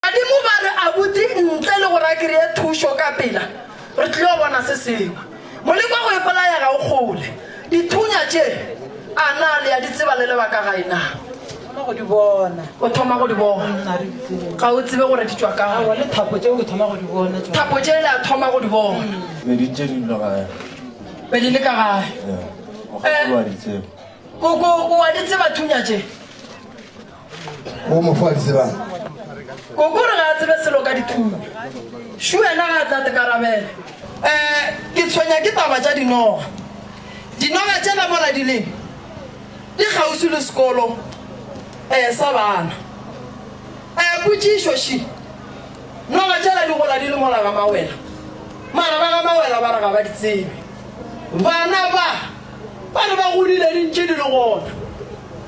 Badimo ba re abuti ntle le gore a kreye thušo ka pela, re tlilo bona se sengwe. Moleko wa go ipolaya ga o kgole. Dithunya tše, a na le a di tseba le lebaka gae na? Thoma go di bona. O thoma go di bona. Nna re tsebe. Ga o tsebe gore di tšwa kae. Aowa, le thapo tšeo ke thoma go di bona. tšona. Thapo tše le a thoma go di bona. Be di ntše di dula gae. Be di le ka gae. Yeah. O kgakoloa di tseba. Koko o a di tseba thunya tše? o mo fo a di tsebang kokore ga a tsebe selo ka dithuo šu wena ga a tla tekarabela um eh, ke tshwenya ke taba tša dinoga dinoga tšela mola di leng di kgausi le sekolo um sa bana um eh, potsišo ši noga tšela di gola di le mola ga mawela mara ba ga mawela ba re ga ba di tsebe bana ba Ba re ba godile di ntše di le gona.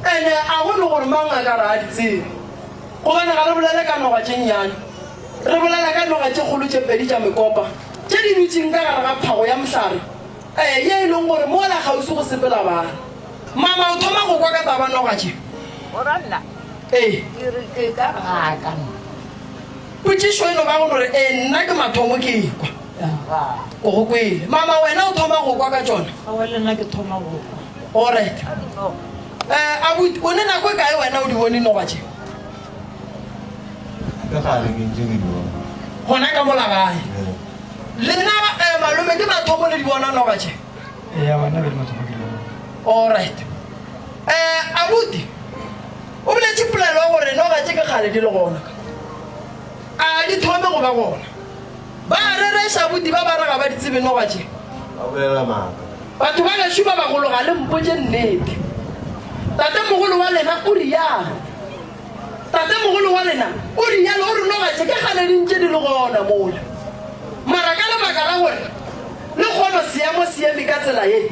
Ene a go no gore mang a ka re a di tsebe? Gobane ga re bolele ka noga tše nnyane. Re bolela ka noga tše kgolo tše pedi tša mekopa tše di dutšeng ka gare ga phago ya mohlare, ee, ye e lego gore mola kgauswi go sepela bana. Mama o thoma go kwa ka taba noga tše. Morwanna, ee. Ke re ke ka baka Potšišo e no ba go no re, Ee, nna ke mathomo ke ekwa. O go kwele. Mama, wena o thoma go kwa ka tšona? Aowa, le nna ke thoma go kwa. Oryt. Eh, abuti, o ne nako e kae wena o di bone nowa tše? Ka gare ke ntše ke di bona. Gona ka mola gae. Ee. Le nna, eh, malome, ke mathomo le di bona nowa tše? Ee, aowa, nna ke le mathomo ke di bona. Oryt. Eh, abuti, O boletše polelo ya gore noga tše ke kgale di le gona ka. A ga di thome go ba gona. Ba a rereša bodiba ba re ga ba di tsebe noga tše. Ba bolela maaka. Batho ba gešo ba bagolo ga le mpotše nnete. Tatemogolo wa lena o realo. Tatemogolo wa lena o realo, o re noga tše ke kgale di ntše di le gona mola. Mara ka lebaka la gore le kgono seemo seeme ka tsela ye,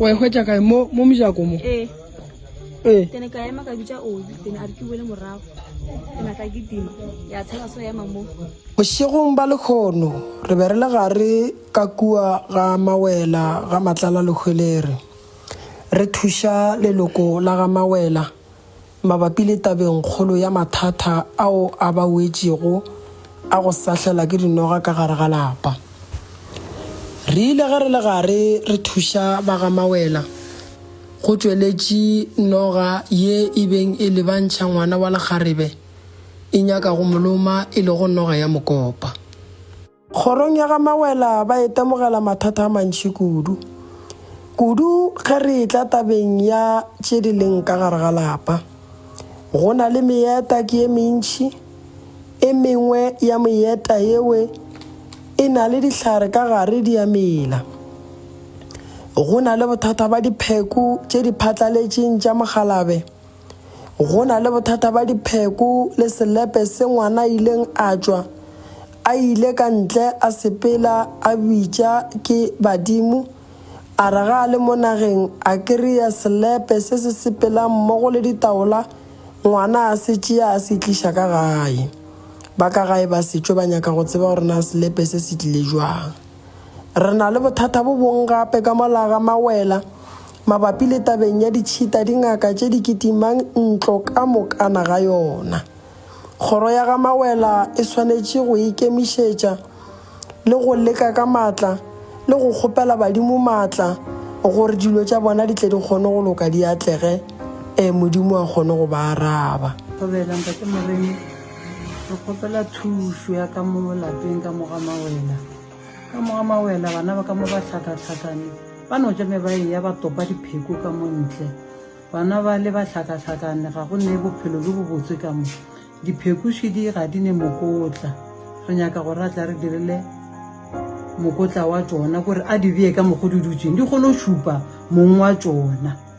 wa e hwetša kae mo mo mojako mo ee ee ke ne ka ema ka bitša obi ke ne a re ke boele morago ke na ka ke tima ya tshela so ema mo bošegong ba lekgono re be re le gare ka kua ga mawela ga matlala lehwelere re thuša leloko la ga mawela mabapi le tabengkgolo ya mathata ao a ba wetšego a go sahlela ke dinoga ka gare ga lapa. Re ile ge re le gare re thuša ba ga Mawela, go tšweletše noga ye e beng e lebantšha ngwana wa lekgarebe e nyaka go mo loma e lego noga ya mokopa. Kgorong ya ga Mawela ba itemogela mathata a mantši kudu, kudu ge re etla tabeng ya tše di leng ka gare ga lapa. Go na le meeta ke ye mentši, e mengwe ya meeta yewe e na le dihlare ka gare di a mela. Go na le bothata ba dipheko tše di phatlaletšeng tša mokgalabe. Go na le bothata ba dipheko le selepe se ngwana a ileng a tšwa a ile ka ntle a sepela a bitša ke badimo, a re ga a le mo nageng a kry-a selepe se se sepelang mmogo le ditaola, ngwana a se tšea a se tliša ka gae. Ba ka gae ba se tšo ba nyaka go tseba gore na selepe se se tlile jwang. Re na le bothata bo bong gape ka mola ga mawela mabapi le tabeng ya ditšhita dingaka tše di kitimang ntlo ka mokana ga yona. Kgoro ya ga mawela e swanetše go ikemišetša le go leka ka matla le go kgopela badimo matla gore dilo tša bona di tle di kgone go loka di atlege, ee, Modimo a kgone go ba araba. Re kgopela thušo ya ka mo lapeng ka moga mawela. Ka moga mawela bana ba ka mo ba hlakahlakane ba no tša me ba eya ba topa dipheko ka mo ntle. Bana ba le ba hlakahlakane ga go ne bophelo jo bobotse ka mo. Diphekošidi ga di ne mokotla. Re nyaka gore a tla re dirile mokotla wa tšona kore a di beye ka mokgo di dutšeng di kgone go šupa mong wa tšona.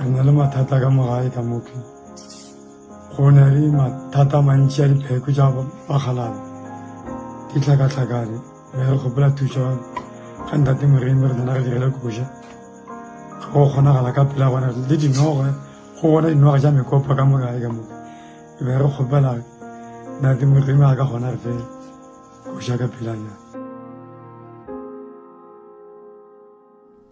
re na le mathata ka mogae ka moke go na le mathata mantši a dipheko tša bakgalaba di tlhakatlhakane me re kgopela thuso ga ntate moremi re nana re direle koja ga go kgonagala ka pela gona le dinoga go bona dinoga tša mekopa ka mogae ka moke e be re kgopela ntate moremi a ka gona re fe koja ka pelanyana